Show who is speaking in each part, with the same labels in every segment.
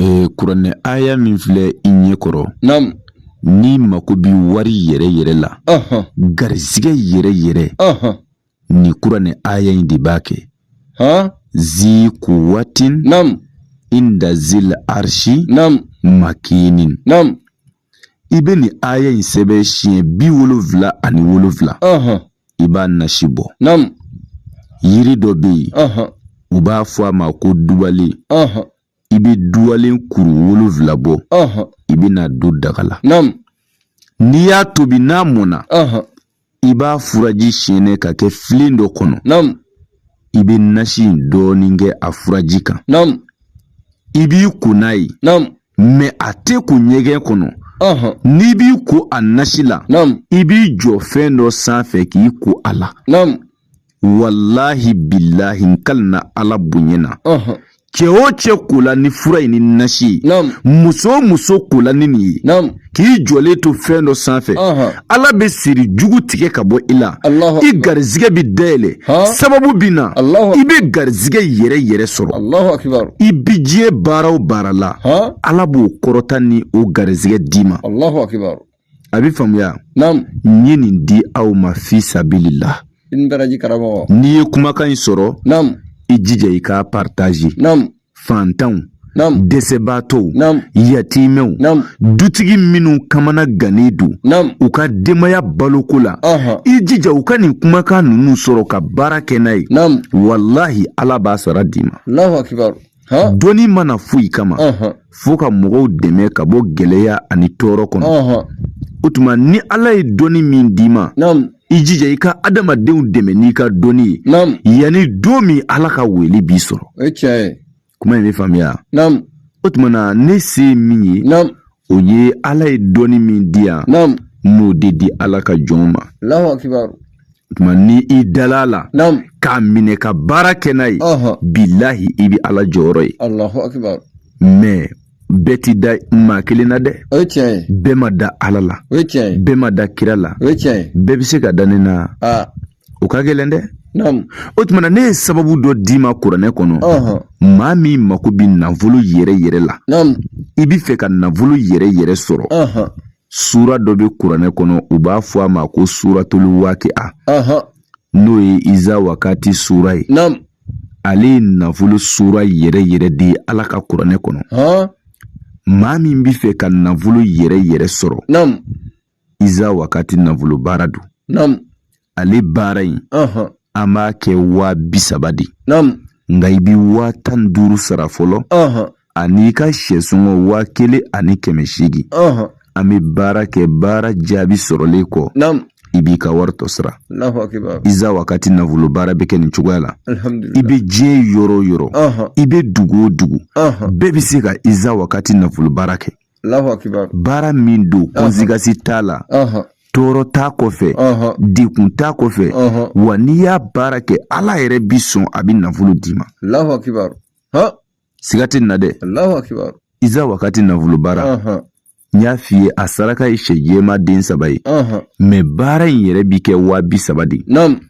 Speaker 1: Ee kuranɛ aya min filɛ i ɲɛ
Speaker 2: kɔrɔ n'i mako
Speaker 1: bɛ wari yɛrɛ yɛrɛ la garizigɛ yɛrɛ yɛrɛ nin kuranɛ aya in de b'a kɛ zi kuwatin
Speaker 2: inda
Speaker 1: zil arisi
Speaker 2: makinin i
Speaker 1: bɛ nin aya in sɛbɛn siɲɛ bi wolonfila ani wolonfila i b'a nasi bɔ
Speaker 2: yiri
Speaker 1: dɔ bɛ yen u b'a fɔ a ma ko dubalen i bɛ dubalen kuru wolonfila bɔ i bɛ n'a don daga la n'i y'a tobi n'a mɔnna i b'a furaji siyɛnɛ ka kɛ filen dɔ kɔnɔ i bɛ nasi in dɔɔnin kɛ a furaji kan i b'i ko n'a ye mɛ a tɛ ko ɲɛgɛn kɔnɔ n'i b'i ko a nasi la i b'i jɔ fɛn dɔ sanfɛ k'i ko a la walahi bilahi n kalina ala bonya na cɛ o cɛ kola ni fura ye ni nasi ye muso o muso kola ni nin ye k'i jɔlen to fɛn dɔ sanfɛ ala bɛ siri jugu tigɛ ka bɔ i la i garizigɛ bɛ dayɛlɛ sababu bɛ na i bɛ garizigɛ yɛrɛ yɛrɛ sɔrɔ i bi diɲɛ baara o baara la ala b'o kɔrɔta ni o garizigɛ d'i ma a bɛ faamuya naamu n ye nin di aw ma fi sabilila i ni baraji karamɔgɔ n'i ye kumakan in sɔrɔ naamu i jija i k'a paritazi naamu fantanw naamu dɛsɛbaatɔw naamu yatimɛw naamu dutigi minnu kamana gannen don naamu u ka denbaya baloko la ɔhɔn i jija u ka nin kumakan ninnu sɔrɔ ka baara kɛ n'a ye naamu walahi ala b'a sara d'i ma alahu akibaru dɔnni ma na foyi kama fo ka mɔgɔw dɛmɛ ka bɔ gɛlɛya ani tɔɔrɔ kɔnɔ o tuma ni ala ye dɔnni min d'i ma i jija i ka adamadenw dɛmɛ n'i ka dɔnni ye yanni don min ala ka wele b'i sɔrɔ kuma in bɛ faamuya o tuma na ne se ye min ye o ye ala ye dɔnni min di yan n b'o de di ala ka jɔnw ma o tuma ni i dala a la k'a minɛ ka baara kɛ n'a ye bilahi i bɛ ala jɔyɔrɔ ye mɛ bɛɛ ti da maa kelen na dɛ o ye tiɲɛ ye bɛɛ ma da ala la o ye tiɲɛ ye bɛɛ ma da kira la o ye tiɲɛ ye bɛɛ bɛ se ka da ne na o ka gɛlɛn dɛ o tuma na ne ye sababu dɔ d'i ma kuranɛ kɔnɔ maa min mako bɛ nafolo yɛrɛ yɛrɛ la i bɛ fɛ ka nafolo yɛrɛ yɛrɛ sɔrɔ sura dɔ bɛ kuranɛ kɔnɔ u b'a fɔ a ma ko suratulu wakiya n'o ye iza wakati sura ye ale ye nafolo sura yɛrɛ yɛrɛ de ye ala ka kuranɛ kɔnɔ maa min bɛ fɛ ka nafolo yɛrɛ yɛrɛ sɔrɔ iza wakati nafolo baara don naamu ale baara in ɔhɔn an b'a kɛ waa bi saba de naamu nka i bi waa tan ni duuru sara fɔlɔ ɔhɔn ani i ka sɛsɔngɔ waa kelen ani kɛmɛ seegin ɔhɔn an bɛ baara kɛ baara jaabi sɔrɔlen kɔ naamu i b'i ka wari tɔ sara alahu akibaru iza wakati nafolo baara bɛ kɛ nin cogoya la i alihamdulilayi bɛ diɲɛ yɔrɔ o yɔrɔ ɔhɔn i bɛ dugu o dugu ɔhɔn bɛɛ bɛ se ka iza wakati nafolo baara kɛ baara min don kɔnsigasi t'a la tɔɔrɔ t'a kɔfɛ dekun t'a kɔfɛ wa n'i y'a baara kɛ ala yɛrɛ bi sɔn a bɛ nafolo d'i ma siga tɛ nin na dɛ iza wagati nafolo baara n y'a f'i ye a saraka ye sɛ jɛman den saba ye mɛ baara in yɛrɛ bi kɛ waa bi saba de ye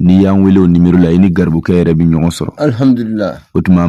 Speaker 1: N'i y'an weele o numéro la i ni garibukɛ yɛrɛ bɛ ɲɔgɔn sɔrɔ alihamudulila o tuma